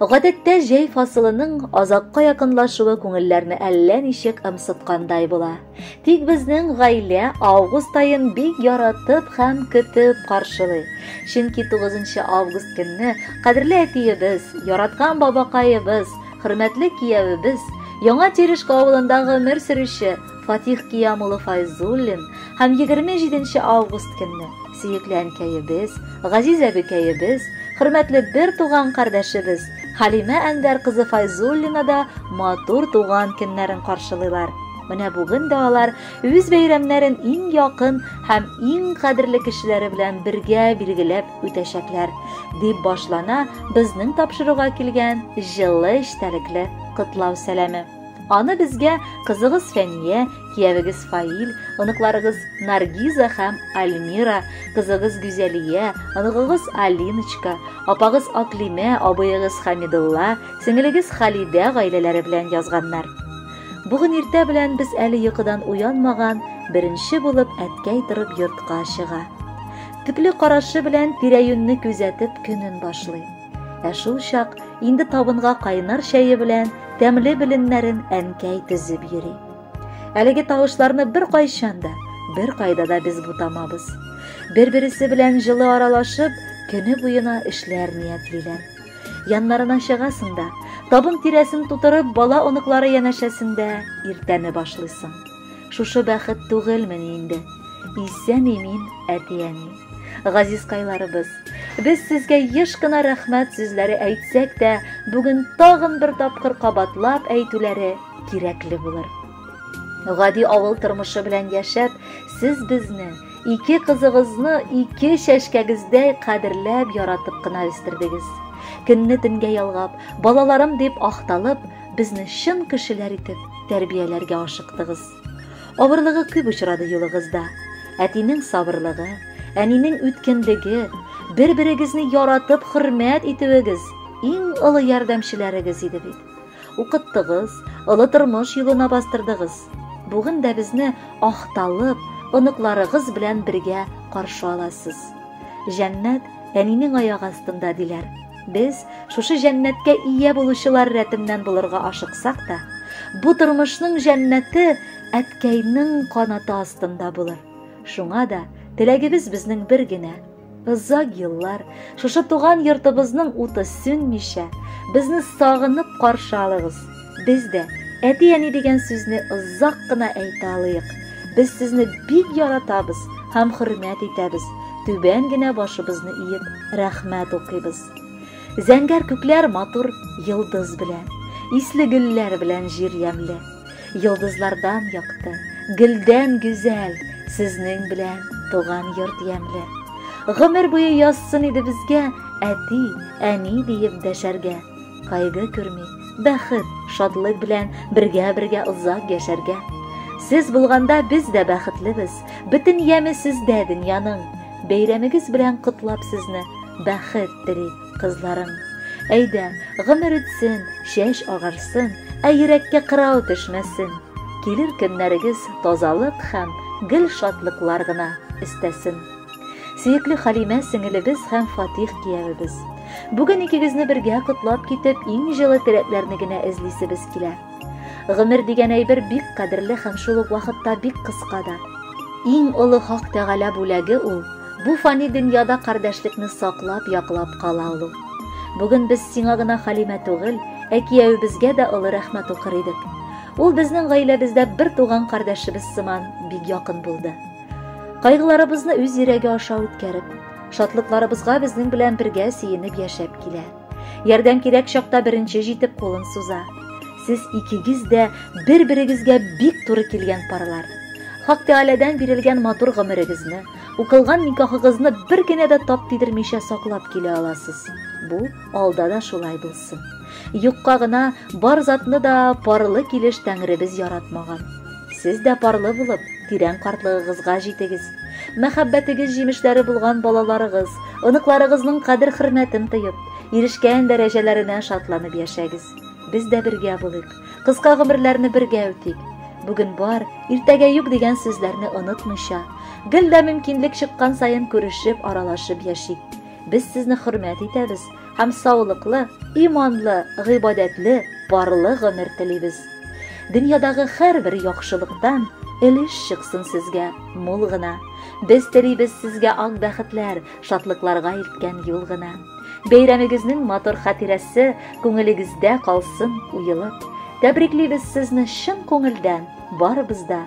Гадәттә җәй фасылының азакка якынлашуы күңелләрне әллә ничек ымсыткандай була. Тик безнең гаилә август айын бик яратып һәм көтеп каршылый. Чөнки 9 август көнне кадерле әтиебез, яраткан бабакаебыз, хөрмәтле киявебез, Яңа Терешка авылында гомер сөрүче Фатих Киям улы Файзуллин һәм 27 август көнне сөекле әнкәебез, газиз әбекәебез, хөрмәтле бер туган кардәшебез Халимә Әнвәр кызы Файзуллина да матур туган көннәрен каршылыйлар. Менә бүген дә алар үз бәйрәмнәрен иң якын һәм иң кадерле кешеләре белән бергә билгеләп үтәчәкләр, дип башлана безнең тапшыруга килгән җылы эчтәлекле котлау сәламе. Аны безгә кызыгыз Фәния, киявегез Фаил, оныкларыгыз Наргиза һәм Альмира, кызыгыз Гүзәлия, оныгыгыз Алиночка, апагыз Аклимә, абыегыз Хамидулла, сеңелегез Халидә гаиләләре белән язганнар. Бүген иртә белән без әле йокыдан уянмаган, беренче булып әткәй торып йортка чыга. Төпле карашы белән тирә-юньне күзәтеп көнен башлый. Ә шул чак инде табынга кайнар чәе белән тәмле беленнәрен әнкәй тезеп йөри. Әлеге тавышларны бер кайчан да, бер кайда да без бутамабыз. Бер-бересе белән җылы аралашып, көне буена эшләр ниятлиләр. Яннарына чыгасың да, табын тирәсен тутырып, бала оныклары янәшәсендә иртәне башлыйсың. Шушы бәхет түгелмени инде? Исән имин әти-әни. Газизкайларыбыз, без сезгә еш кына рәхмәт сүзләре әйтсәк тә, бүген тагын бер тапкыр кабатлап әйтүләре кирәкле булыр. Гади авыл тормышы белән яшәп, сез безне, ике кызыгызны ике чәчкәгездәй кадерләп, яратып кына үстердегез. Көнне төнгә ялгап, балаларым дип ахталып, безне чын кешеләр итеп тәрбияләргә ашыктыгыз. Авырлыгы күп очрады юлыгызда. Әтинең сабырлыгы, әнинең үткенлеге, бер-берегезне яратып хөрмәт итүегез иң олы ярдәмчеләрегез иде бит. Укыттыгыз, олы тормыш юлына бастырдыгыз. Бүген дә безне ахталып, оныкларыгыз белән бергә каршы аласыз. Җәннәт әнинең аяк астында диләр. Без, шушы җәннәткә ия булучылар рәтеннән булырга ашыксак та, бу тормышның җәннәте әткәйнең канаты астында булыр. Шуңа да теләгебез безнең бер генә, озак еллар шушы туган йортыбызның уты сүнмичә, безне сагынып каршы алыгыз. Без дә әти-әни дигән сүзне озак кына әйтә алыйк. Без сезне бик яратабыз һәм хөрмәт итәбез. Түбән генә башыбызны иеп, рәхмәт укыйбыз. Зәңгәр күкләр матур йолдыз белән, исле гөлләр белән җир ямьле. Йолдызлардан якты, гөлдән гүзәл, сезнең белән туган йорт ямьле. Гомер буе язсын иде безгә әти, әни диеп дәшәргә. Кайгы күрми, бәхет, шатлык белән бергә-бергә озак яшәргә. Сез булганда без дә бәхетлебез, бөтен яме сездә дөньяның. Бәйрәмегез белән котлап сезне, бәхет тели кызларың. Әйдә, гомер үтсен, чәч агарсын, ә йөрәккә кырау төшмәсен. Килер көннәрегез тазалык һәм гел шатлыклар гына өстәсен. Сөекле Халимә сеңелебез һәм Фатих киявебез. Бүген икегезне бергә котлап китеп, иң җылы теләкләрне генә эзлисебез килә. Гомер дигән әйбер бик кадерле һәм шул ук вакытта бик кыска да. Иң олы Хак Тәгалә бүләге ул, бу фани дөньяда кардәшлекне саклап, яклап кала алу. Бүген без сиңа гына Халимә түгел, ә киявебезгә дә олы рәхмәт укыр идек. Ул безнең гаиләбездә бер туган кардәшебез сыман бик якын булды. Кайгыларыбызны үз йөрәге аша үткәреп, шатлыкларыбызга безнең белән бергә сөенеп яшәп килә. Ярдәм кирәк чакта беренче җитеп кулын суза. Сез икегез дә бер-берегезгә бик туры килгән парлар. Хак Тәгаләдән бирелгән матур гомерегезне, укылган никахыгызны бер генә дә тап тидермичә саклап килә аласыз. Бу алда да шулай булсын. булсын. Юкка гына бар затны да парлы килеш Тәңребез яратмаган. Сез дә парлы булып, тирән картлыгыгызга җитегез. Мәхәббәтегез җимешләре булган балаларыгыз, оныкларыгызның кадер-хөрмәтен тоеп, ирешкән дәрәҗәләренә шатланып яшәгез. Без дә бергә булыйк, кыска гомерләрне бергә үтик. Бүген бар, иртәгә юк дигән сүзләрне онытмыйча, гел дә мөмкинлек чыккан саен күрешеп, аралашып яшик. Без сезне хөрмәт итәбез, һәм саулыклы, иманлы, гыйбадәтле, парлы гомер телибез. Дөньядагы һәрбер яхшылыктан өлеш чыксын сезгә мул гына. Без телибез сезгә ак бәхетләр, шатлыкларга илткән юл гына. Бәйрәмегезнең матур хатирәсе күңелегездә калсын уелып. Тәбриклибез сезне чын күңелдән, барыбыз да